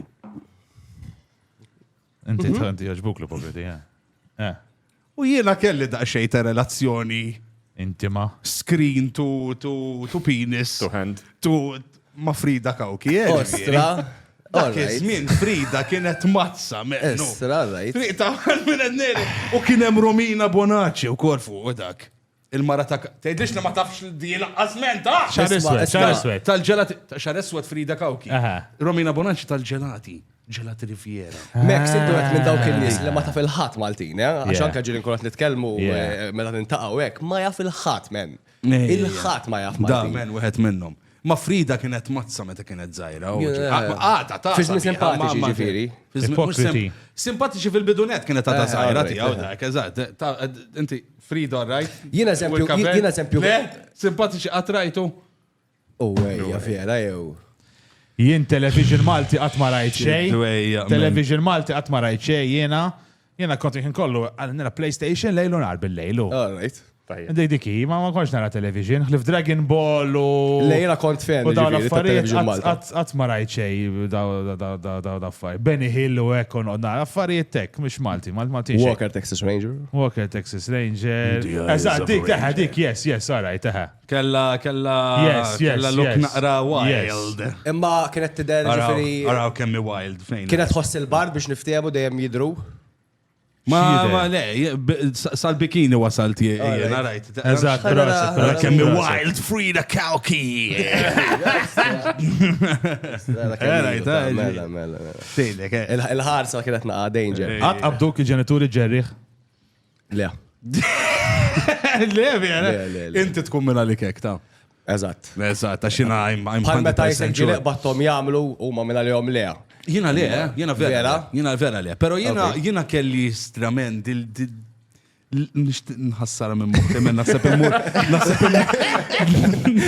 Inti mhm. tanti jaġbuk l-ipokriti, eh? eh. U jiena kelli daqsxejn ta' relazzjoni intima. Screen to, to, to penis. To hand. To ma Frida Kawki. Eh, Ostra. Dak iż-żmien Frida kienet mazza meqnu. Estra, right. Triq ta' minn għedneri. U kien hemm Romina Bonaci u kol fuq u dak. Il-mara ta' tgħidlix li ma tafx li di laqqas menta. Xar Isma', iswed, isma'. xar iswed. Tal-ġelati, ta' xar eswed Frida Kawki. Aha. Romina Bonaci tal-ġelati. Ġelati Riviera. Mek, siddu għet minn dawk il-nis li ma taf il-ħat Maltin, eh? Għax Yeah. anka ġiri nkulat nitkelmu Yeah. eh, meta nintaqaw hekk, ma jaf il-ħat, men. Il-ħat ma jaf Da, Maltin. men, wieħed minnhom. Ma Frida kienet mazza meta kienet zaħira. Għata, ta' Fiżmi simpatiċi ġifiri. Ipokriti. Simpatiċi fil-bidunet kienet ta' zaħira ti għaw dak, eżat. Inti, Frida, rajt? Jina eżempju, jina eżempju. Le, simpatiċi għatrajtu. U għajja, vera, jew. Jien television Malti għatmarajt xej. Television Malti għatmarajt xej, jena. Jiena kont il-ħin kollu għal nara PlayStation lejl u nhar bil-lejl. All right. Dik dik hi, ma ma kontx nara television, ħlif Dragon Ball u. Le jiena kont fan u dawn l-affarijiet Malta. Qatt ma rajt xej dawn affarijiet. Benny Hill u hekk u nara affarijiet tek, mhux Malti, Malti. Walker Texas Ranger. Walker Texas Ranger. Eżatt, dik, dik, yes, yes, all right, Kella, kella, kella look naqra wild. Imma kienet tidher ġifiri. Araw kemmi wild fejn. Kienet tħoss il-bar biex niftehmu dejjem jidru. Ma, ma, le, sal-bikini wasalt jien, rajt. Eżat, rajt. Kemmi wild Frida Kalki. Rajt, rajt. Il-ħarsa kienet naqa danger. Għat abduk il-ġenituri ġerriħ? Le. Le, vera. Inti tkun minna li kek, ta' Eżatt. Eżatt, għax jina I'm Bħal meta jisek ġilek battom jamlu u ma minna li jom le. Jina le, eh? jina vera. Jina vera le. Pero jina, jina kelli strament dil nħassara minn muħti minn nasib immur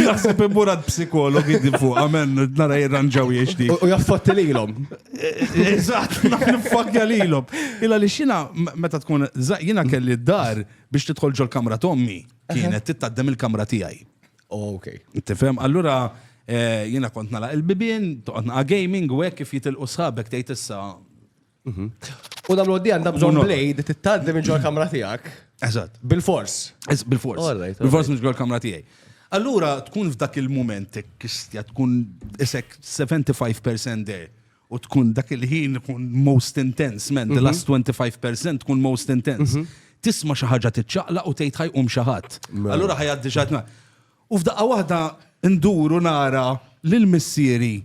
nasib immur għad psikologi di fuq għamen nara jirranġaw jiexti. U jaffotti li l-om. Eżatt, nifakja lilhom. Illa li xina meta tkun jina kelli d-dar biex tidħol ġol kamra tommi kienet tittaddem il-kamra tiegħi. Oh, ok. Tifhem, allura eh, jina kont nala il-bibien, toqgħod naqa' gaming u hekk kif jitilqu sħabek tgħid issa. Mhm. U dal għoddi għandha bżonn blade tittaddem ġol kamra tiegħek. Eżatt. Bil-fors. Bil-fors. Bil-fors mhux ġol kamra tiegħi. Allura tkun f'dak il-mument kistja tkun isek 75% there u tkun dak il-ħin tkun most intense, man, the mhm. last 25% tkun most intense. Mhm. Tisma xi ħaġa tiċċaqla u tgħid ħajqum xi ħadd. Mela. Allura ħajgħaddi xi U f'daqqa waħda nduru nara lil missieri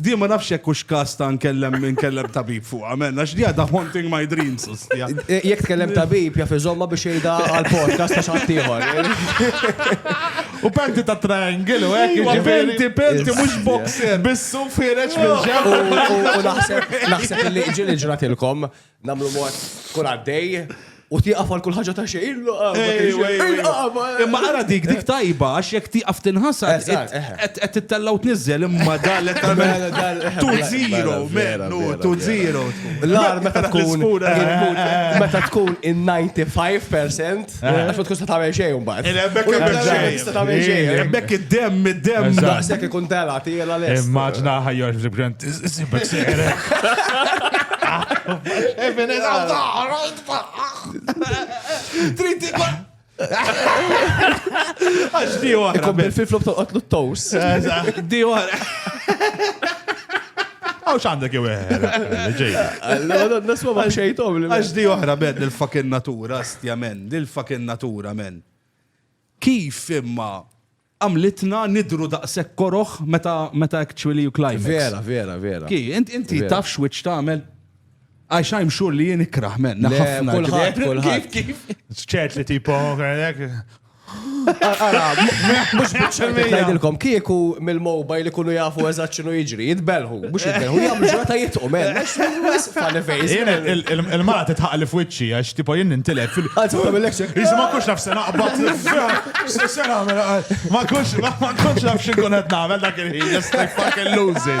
Di ma nafx jekk hux każ ta' nkellem inkellem tabib fuqha, amen, għax di għadha haunting my dreams, ostja. Jekk tkellem tabib jaf iżommha biex jgħidha għall-podcast ta' xi ħadd ieħor. U panty ta' triangle u hekk. Iva, panty, panty, mhux boxer. Bis-suf ħireġ minn ġenb. U naħseb naħseb li ġieli ġratilkom Namlu mod kun għaddej u tieqaf għal kull ħaġa ta' xejn. Imma għara dik dik tajba għax jekk tieqaf tinħasa qed tittellaw tniżżel imma dan qed tagħmel tu zero mennu tu zero. L-ar meta tkun meta tkun in 95% Għax ma tkun se tagħmel xejn imbagħad. Il-ebbek U tagħmel jibda xejn. tista' tagħmel xejn. Really? Bekk id-dem, id-dem. Eżatt. Daqshekk ikun tela tiela lest. Immaġna ħajjar fil-grant, iżibek seqrek. Even in a dar, Trid tikun. Għax di oħra. Ikun bil-flip-flop tolqotlu t-tows. Eżatt, Di oħra. Għaw xandek jew eħer. Ġej. Nasma ma xejtom li. Għax di oħra bed il-fucking natura. Bestia men, lil fuckin natura men. Kif imma għamlitna nidhru daqshekk koroh meta meta actually you climax. Vera, vera, vera. Ki, int inti Vera. taf x'wiċċ tagħmel? Għax I'm sure li jien ikrah men. Le, ħafna kulħadd, ġifieri- kulħadd. Kif, kif? ċert li tipo, għalek, Ngħidilkom kieku mill-mobile ikunu jafu eżatt x'inhu jiġri, jitbelħu, mhux jitbelħu, jagħmlu ġurnata jitqu men. Il-mara titħaq li f'wiċċi għax tipo jien nintilef fil- Anzi, ma tagħmillekx hekk. Iżda ma kunx naf se naqbad. Se se nagħmel ma kunx ma kunx naf x'inkun qed nagħmel dak il-ħin, just like fucking lose it.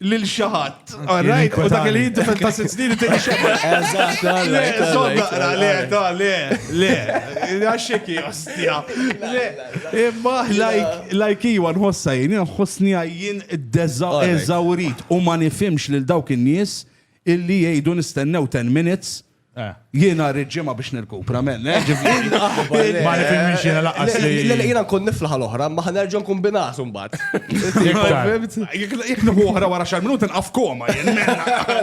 lil xi ħadd. Alright, u dak li jinti ta' sitt snin tieni xogħol. Eżatt, le, żomm naqra, le, ta' le, le, għaxek jostja. Le, imma lajk iwa nħossa jien, nħossni jien eżawrit u ma nifimx lil dawk in-nies illi jgħidu nistennew 10 minutes Eh. Jiena rrid ġimgħa biex nirkupra men. Eh, ma nifhimx jiena laqqas li. Jiena nkun niflaħ l-oħra, ma ħanerġa nkun binas imbagħad. Jekk nieħu oħra wara xar minuti nqaf koma jien.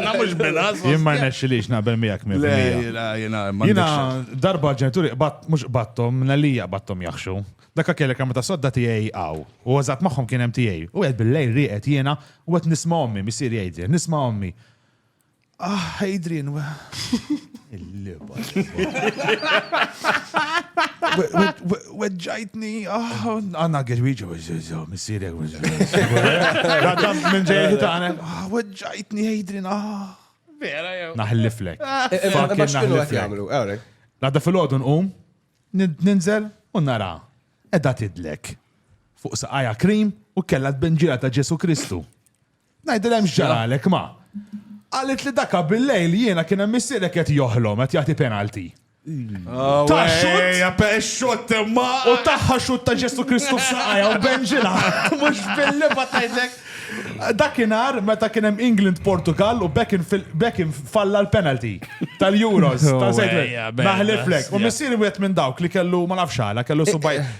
Nagħmlux binas. Jien ma nexxilix naqbel miegħek minn. Jiena darba ġenituri qbad mhux qbadthom nalija qbadthom jaħxu. Dakka kellek għamma ta' sodda tiegħi għaw. U għazat magħhom kien hemm tiegħi. U qed bil-lejl rieqed jiena u qed nisma' ommi, missier jgħidli, nisma' ommi. Ah, Adrian, wa. Il-liba. Weġġajtni, ah, għanna għedwiġa, missirek, għadam minn ġejħi taħna. Ah, weġġajtni, Adrian, ah. Vera, jew. Naħliflek. Eh, eh, Fucking Max kienu għet jamlu, għawrek. Għadda fil-ħodu nqum, ninżel, u nara. Edda tidlek. Fuq saqaja krim u kella t-benġira ta' Ġesu Kristu. Ngħidilhem x'ġaralek ma. Qalet li daka bil-lejl jiena kien hemm missierek qed joħlom qed jagħti penalty. Oh, ta' xut! U taħħa xut ta' Ġesu Kristu f'saqajja u benġila. Mux billi ma tajtek. Dakinar meta kien hemm England Portugal u Beckham falla l-penalty tal-Euros. Naħliflek. U missieri wieħed minn dawk li kellu ma nafx għala, kellu subaj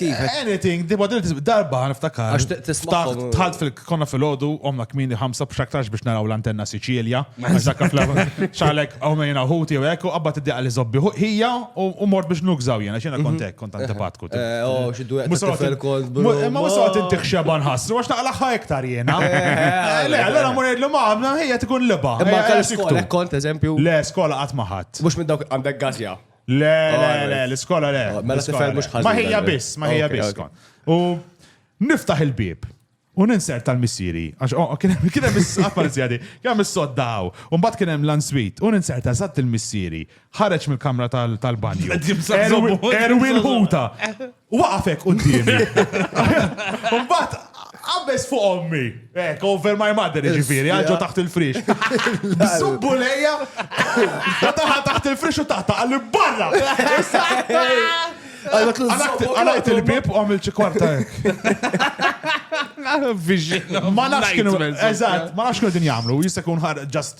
Kif? Anything, di badil tisbi darba niftakar. Għax t- tismagħhom. Ftaħt- Tħalt fil konna fil-ħodu, omna kmini ħamsa b'xaktarx biex naraw l-antenna Siċilja. Għax dak fl- xalek għomejna ħuti u ekku, għabba t-diqa li zobbi hu- hija u u mort biex nukżaw jena, xena kontek, kont antipatku. Mhm. Eh, oh, xi duet ta' tifel kont, bro. Ma ma saqt inti xeba nħassru, għax naqlaħħa iktar jena. Eh, Le, allora morejt l-ma għamna, hija tkun liba. Imma Ejja, tal-iskola tiktu. kont, eżempju, Le, skola għat maħat. mux minn dawk għandek gazja. Le, le, le, l-iskola le. Oh, mela tifhem mhux ħażin. Ma ħejja biss, ma ħejja biss. U niftaħ il-bib. U ninser tal-missiri, għax oh, kien hemm is-saqal żjadi, kien hemm is-soddaw, u mbagħad kien hemm l-answit, u ninser ta' żatt il-missiri, ħareġ mill-kamra tal-banju. Erwin ħuta. U waqafek qudiemi. Mbagħad qabeż fuq ommi. Eh, over my mother, ġifieri, għalġo taħt il-frix. Subbu lejja, taħa taħt il-frix u taħta għalli barra. Għalaqt il-bib u għamil ċikwarta. Ma nafx kienu, eżat, ma nafx kienu din jamlu, jistakun ħar ġast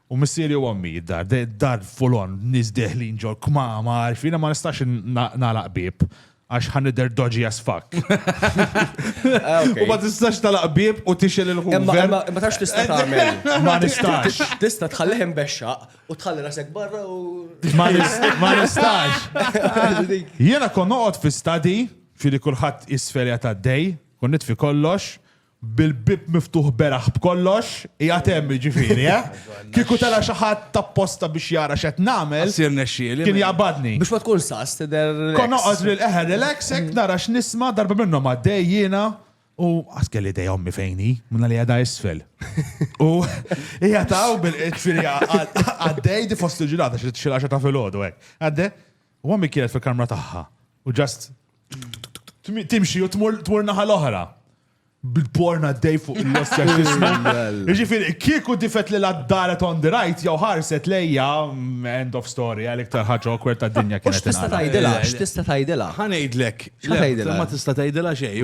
U missieri u ommi, d-dar, d-dar full on, nies deħlin ġol kmamar, fina ma nistax nagħlaq bieb għax ħan nidher dodgy as fuck. Ah, u ma tistax tal bieb u tixel il-ħuver. Ma tax tista' tagħmel. Ma nistax. Tista' tħallih imbexxa u tħalli rasek barra u. Ma nistax. Jiena kon noqgħod fi stadi, fili kulħadd isferja ta' dej, kon nitfi kollox, Bil-bieb miftuħ beraħ b'kollox, qiegħed hemm jiġifieri, eh? Kieku tela' xi ħadd tapposta biex jara x'qed nagħmel. Issir nexxieli. Kien jaqbadni. Biex ma tkun sas tidher relax. Kont noqgħod bil-qeħ relax hekk nara x'nisma' darba minnhom għaddej jiena u qas kelli idea ommi fejn hi, minna li għadha isfel. U hija taw bil-qed firja għaddej di fost il-ġilata xi xi ta' filgħodu hekk. Għaddej U għammi kienet fil-kamra tagħha. U ġast timxi u tmur naħa l-oħra. Bil-porna d-dej fuq il-lossja xisma. Ġifir, kieku difet li l-addaret on the right, jaw ħarset lejja, mm, end of story, għalik tarħaġa awkward ta' dinja kienet. X'tista' tgħidilha? X'tista' tgħidilha? Ħanejdlek. X'tgħidilha? Ma tista' tgħidilha xejn.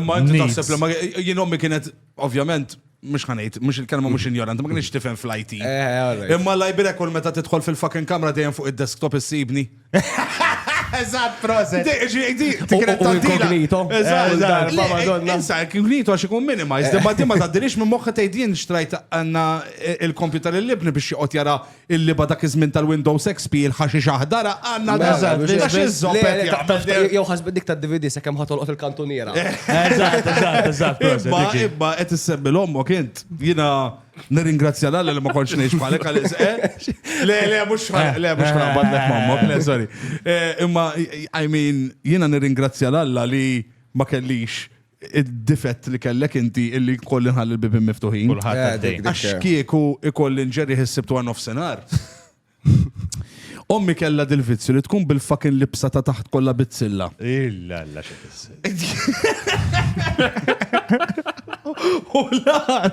Imma inti taħseb li ma jien ommi kienet ovvjament mux ħanajt, mux il-kelma mux ignorant, ma kienx tifhem fl-IT. Eh, Imma l-lajbira kull meta tidħol fil-fucking kamra dejjem fuq id-desktop issibni. Eżatt, proset. Inkognito. Eżatt, madonna. Insa, inkognito għax ikun minimized, imma di ma taddilix minn moħħa tgħidin xtrajt għanna eh, il-kompjuter l-libni biex joqgħod jara Il-liba dak iż-żmien tal-Windows XP il-ħaxix aħdar għandna Mela, Eżatt, biex- Għax biex- iż-żoppet le, jagħmel ta- ta- del- Jew ħasbet dik tad-DVD sakemm ħatolqot il-kantuniera. Eżatt, eżatt, eżatt. proset, Imma, diġi. imma, qed issemmi l-ommok int. Jina nirringrazzja l li ma kontx ngħix bħalek għal isqe. Le, le, mhux ħaraq, le, mhux ħaraq badlek mammok, le, sorry. Eh, Imma, I mean, jina nirringrazzja l li ma kellix id-difett li kellek inti illi kolli nħalli l-bibin miftuħin. Kulħadd għaddej. Għax kieku ikolli nġerri ħissibtu għan nofsenar. Ommi kella dil-vizzju li tkun bil-fakin libsa ta' taħt kollha bizzilla. Illa, illa, xi tissi. U l-għar.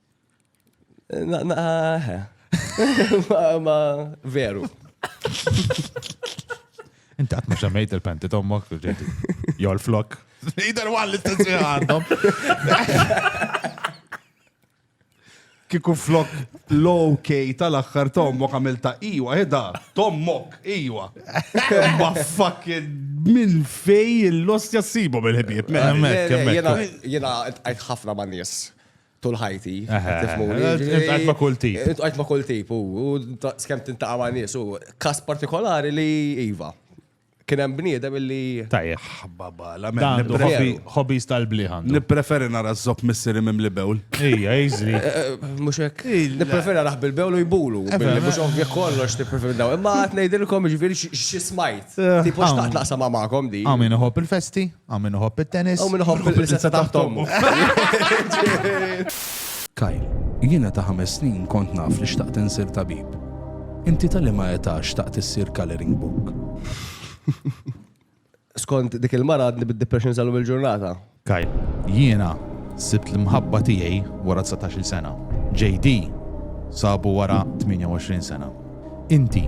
Ma veru. Inti għat mux għamajt il-penti tommok, jol flok. Jider għan l-istessi għandhom. Kiku flok low key tal-axħar tommok għamil ta' iwa, edha, tommok, iwa. Ma fucking minn fej l-lost jassibu bil-ħibib. Jena għajt ħafna ma' nis. Tul ħajti. Għajt ma kull tip. Għajt ma kull tip, u skem tintaqa ma nies, u kas partikolari li Iva. Kien hemm bniedem illi. Tajjeb. Baba, la Hobbies tal-bliħan. Nippreferi nara z-zop missiri mim li bewl. Ija, jizri. Eh, eh, eh, mux hekk. Nippreferi nara bil-bewl u jbulu. Mux ovvja kollox nippreferi daw. Imma għat nejdilkom ġviri xismajt. Tipo xtaqt naqsam għamakom di. Għamin uħob il-festi? Hawn min iħobb it-tennis. Hawn min iħobb il-prinsessa taħt ommu. Kyle, Jiena ta' ħames snin kont naf li xtaqt insir tabib. Inti ta' liema età xtaqt issir colouring book? Skont dik il-mara għadni bid-depression sal il-ġurnata. Kyle, Jiena sibt l-imħabba tiegħi wara 19-il sena. JD sabu wara 28 sena. Inti,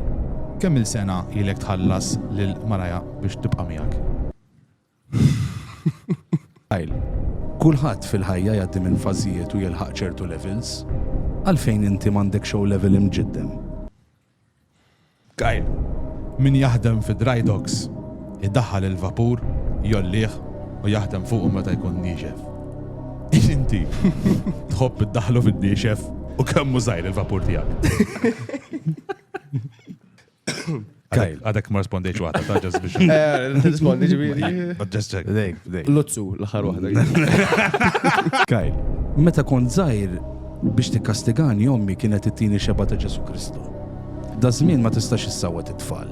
kemm-il sena ilek tħallas lil maraja biex tibqa' miegħek? Kyle, Kulħadd fil-ħajja jgħaddi minn fażijiet u jilħaq ċertu levels. Għalfejn inti m'għandekx O-Level imġiddem? Kyle, Min jaħdem fi dry docks idaħħal il-vapur, jgħollih u jaħdem fuqu meta jkun niexef. Inti tħobb iddaħħlu fin-niexef u kemm żgħir il-vapur tiegħek. Kajl. Għadek ma rispondejx waħda, ta' ġest biex. Eh, rispondi ġibiri. Ġest ġek. Dejk, dejk. Lutzu, l-ħar waħda. Kajl, meta kont zaħir biex tikkastigani ommi kienet it-tini xeba ta' Ġesu Kristu. Da żmien ma tistax issawwet it-tfal.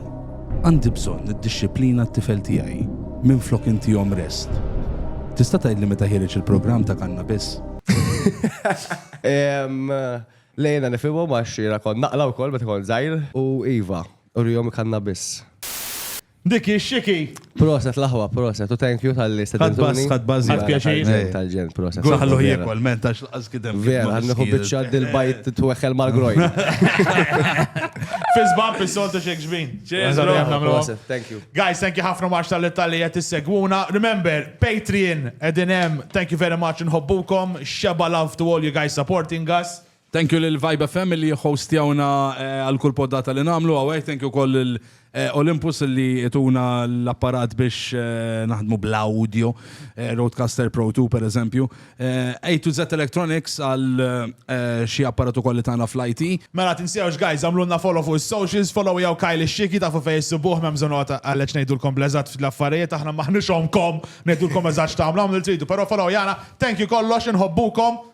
Għandi bżonn niddixxiplina t-tifel tiegħi minflok intihom rest. Tista' tgħidli meta ħiereġ il-programm ta' Kanna Biss? Lejna nifhimhom għax jiena kont naqla wkoll meta kont żgħir. U iva, urihom Kanna Biss. Dik hi x-xiki! Proset l-aħwa, proset u thank you talli stedintuni. Ħadt bass, ħadd bass. Ħadt pjaċir. Tal-ġenn, proset. Ħalluh jiekol, m'hemmx. Vera, nħu bieċa dil-bajt t-tweħel mal-grojn. Fizban fil-soltu xek ġbin. Thank you. Guys, thank you ħafna maċ tal-Italli jett segwuna Remember, Patreon, edinem, thank you very much nħobbukom. Xeba love to all you guys supporting us. Thank you l-Vibe FM li hostjawna eh, għal-kull poddata li namlu għawek. Thank you koll Olympus li ituna l-apparat biex naħdmu bl-audio, Rodecaster Pro 2 per eżempju, A to Z Electronics għal xi apparat ukoll li tana fl-IT. Mela tinsewx guys għamlulna follow fuq is-socials, follow jew Kyle ix-Xieki tafu fejn issibuh m'hemm bżonn noqgħod għalhekk ngħidulkom bl-eżatt fl-affarijiet aħna m'aħniex ommkom ngħidulkom eżatt x'tagħmlu għamlu li tridu però follow jana, thank you kollox inħobbukom.